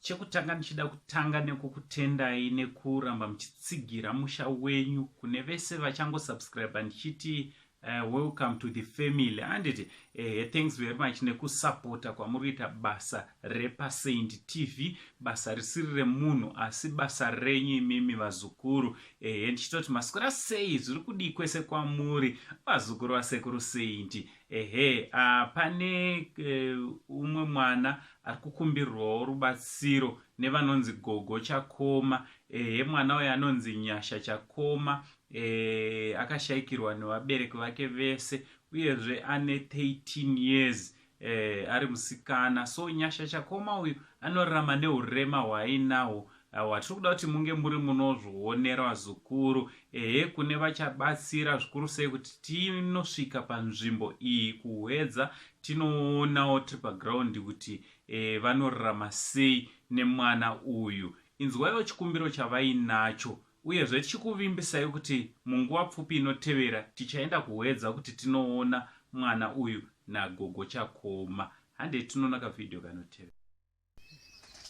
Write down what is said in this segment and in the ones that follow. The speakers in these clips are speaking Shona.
Chekutanga ndichida kutanga nekukutendai nekuramba muchitsigira musha wenyu kune vese vachango subscribe ndichiti uh, welcome to the family handiti uh, eh, thanks very much nekusapota kwamuri kuita basa repasaint tv basa risiri remunhu asi basa renyu imimi vazukuru uh, ndichitoti masikura sei zviri kudii kwese kwamuri vazukuru vasekuru saint ehe uh, pane uh, umwe mwana ari kukumbirwawo rubatsiro nevanonzi gogo chakoma ehe mwana uyo anonzi nyasha chakoma e, akashaikirwa nevabereki vake vese uyezve ane 13 years e, ari musikana so nyasha chakoma uyu anorarama neurema hwaainahwo Awa tiri kuda kuti munge muri munozvionera vazukuru, ehe kune vachabatsira zvikuru sei kuti tinosvika panzvimbo iyi kuhwedza tinoonawo tiri paground kuti e, vanorarama sei nemwana uyu. Inzwaiwo chikumbiro chavainacho uyezve tichikuvimbisai kuti munguva pfupi inotevera tichaenda kuhwedza kuti tinoona mwana uyu nagogo chakoma. Handei tinoona kavhidhiyo kanotevera.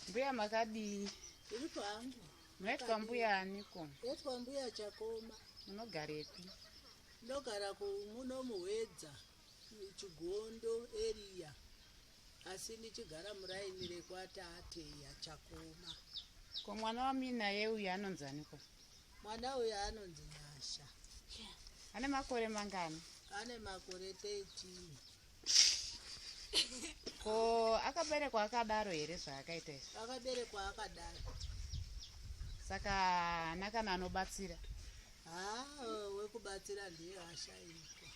Mbuya makadii? Tiri pangu. Munoitwa mbuya aniko? Toitwa mbuya chakoma. Munogarepi? Ndogara kumuno muhwedza chigondo area asi ndichigara muraini rekwatate yachakoma. Ko mwana wamuinaye uyu anonzi aniko? Mwana uyu anonzi Nyasha. Ane makore mangani? Ane makore 13. ko akaberekwa akadaro here zvaakaita izvi akaberekwa akadaro saka hana kana anobatsira haa wekubatsira ndiye ashaikwa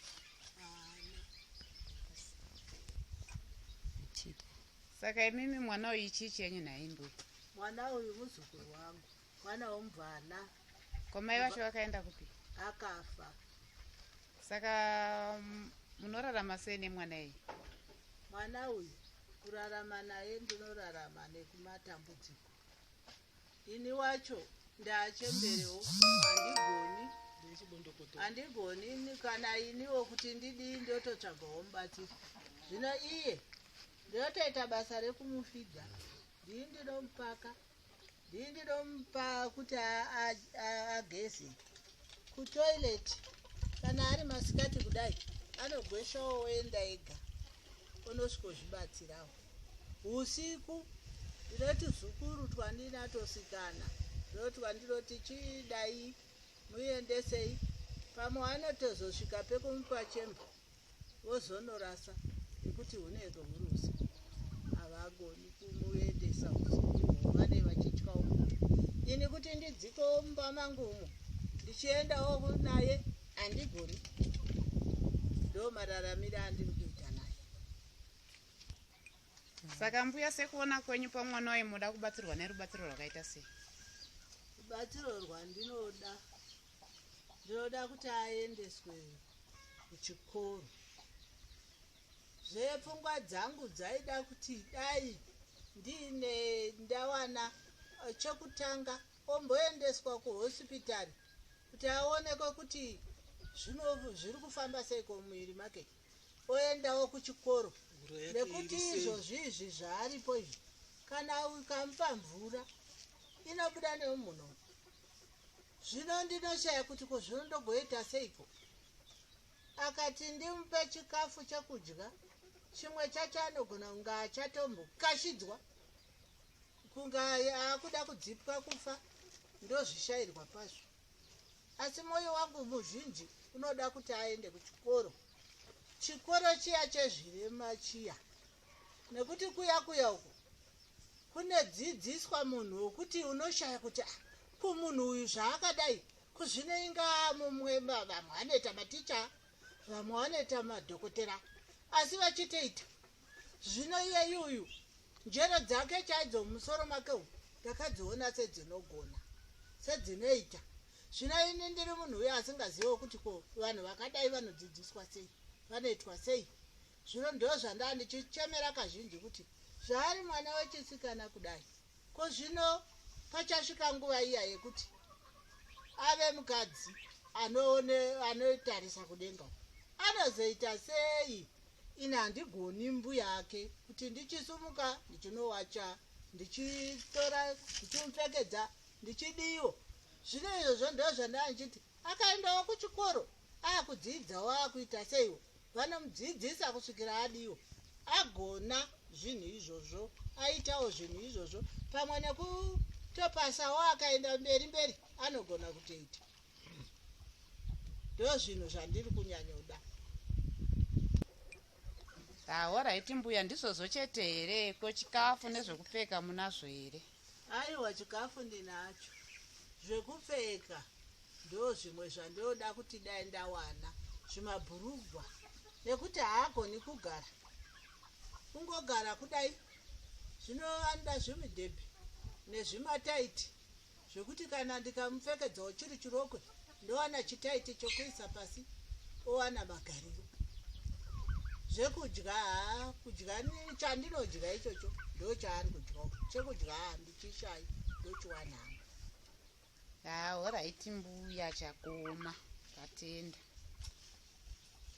hana saka imimi mwana uyu chii chenyu nhaimbuya mwana uyu muzukuru wangu mwana womubvana ko mai vacho vakaenda kupi akafa saka mm, munorarama sei nemwana iyi mwana uyu kurarama naye ndinorarama nekumatambudziko ini wacho ndaachemberewo handigoni handigoni ini- kana iniwo kuti ndidii ndototsvagawo mubatsiri zvino iye ndotoita basa rekumufidha ndii ndinomupaka ndindidompa kuti ageze kutoilet kana ari masikati kudai anogweshawo oenda ega onosvikozvibatsirawo usiku ndinoti zukuru twandinatosikana ndoti wandinoti chidai muendesei pamwe anotozosvika pekumupa chemba vozonorasa nekuti hune ruhurusa havagoni kumuendesa vane vachityawo ini kuti ndidziko mumba mangu umo ndichiendawo naye handigoni ndo mararamire andiri kuita naye saka mbuya sekuona kwenyu pamwana waye munoda kubatsirwa nerubatsiro rwakaita sei rubatsiro rwandinoda ndinoda kuti aendeswe kuchikoro zvepfungwa dzangu dzaida kuti dai ndiine ndawana eh, chekutanga omboendeswa kuhosipitari kuti aonekwe kuti zvino zviri kufamba sei komuviri make oendawo kuchikoro nekuti izvozvi izvi zvaaripo izvi kana ukamupa mvura inobuda nemuno zvino ndinoshaya kuti ko zvino ndogoita seiko akati ndimupe chikafu chekudya chimwe chacho anogona kunga achatombokashidzwa kunga akuda kudzipwa kufa ndozvishairwa pazvo asi mwoyo wangu muzhinji unoda kuti aende kuchikoro chikoro chiya chezvirema chiya nekuti kuya kuya uku kunedzidziswa munhu wokuti unoshaya kuti ah, ko munhu uyu zvaakadai kuzvino inga mumwe vamwe anoita maticha vamwe vanoita madhokotera asi vachitoita zvino iyeyi uyu njere dzake chaidzo mumusoro make umu ndakadziona sedzinogona sedzinoita zvino ini ndiri munhu uyo asingazivewo kuti ko vanhu vakadai vanodzidziswa sei vanoitwa sei Zvino ndozvandaa ndichichemera kazhinji kuti zvaari mwana wechisikana kudai ko zvino pachasvika nguva iya yekuti ave mukadzi anotarisa kudenga anozoita sei ini handigoni mbuya ake kuti ndichisumuka ndichinowacha ndichitora ndichimupfekedza ndichidiwo zvino izvozvo ndozvandaa ndichiti akaendawo kuchikoro akudziidzawo akuita seiwo vanomudzidzisa kusvikira adiwa agona zvinhu izvozvo aitawo zvinhu izvozvo pamwe nekutopasawo akaenda mberi mberi anogona kutoita ndo zvinhu zvandiri kunyanyoda ahoraiti ah, mbuya ndizvozvo chete here ko chikafu nezvekupfeka munazvo here ah, Aiwa chikafu ndinacho zvekupfeka ndozvimwe zvandoda kuti dai ndawana zvimabhurugwa nekuti haagoni kugara kungogara kudai zvino anoda zvimidhebhi nezvimataiti zvekuti kana ndikamupfekedzawo chiri chirokwe ndowana chitaiti chokuisa pasi owana magariro zvekudya haa kudya chandinodya ichocho ndochaari kudyawo chekudya haa ndichishayi ndochiwanangu haa horaiti mbuya chakoma tatenda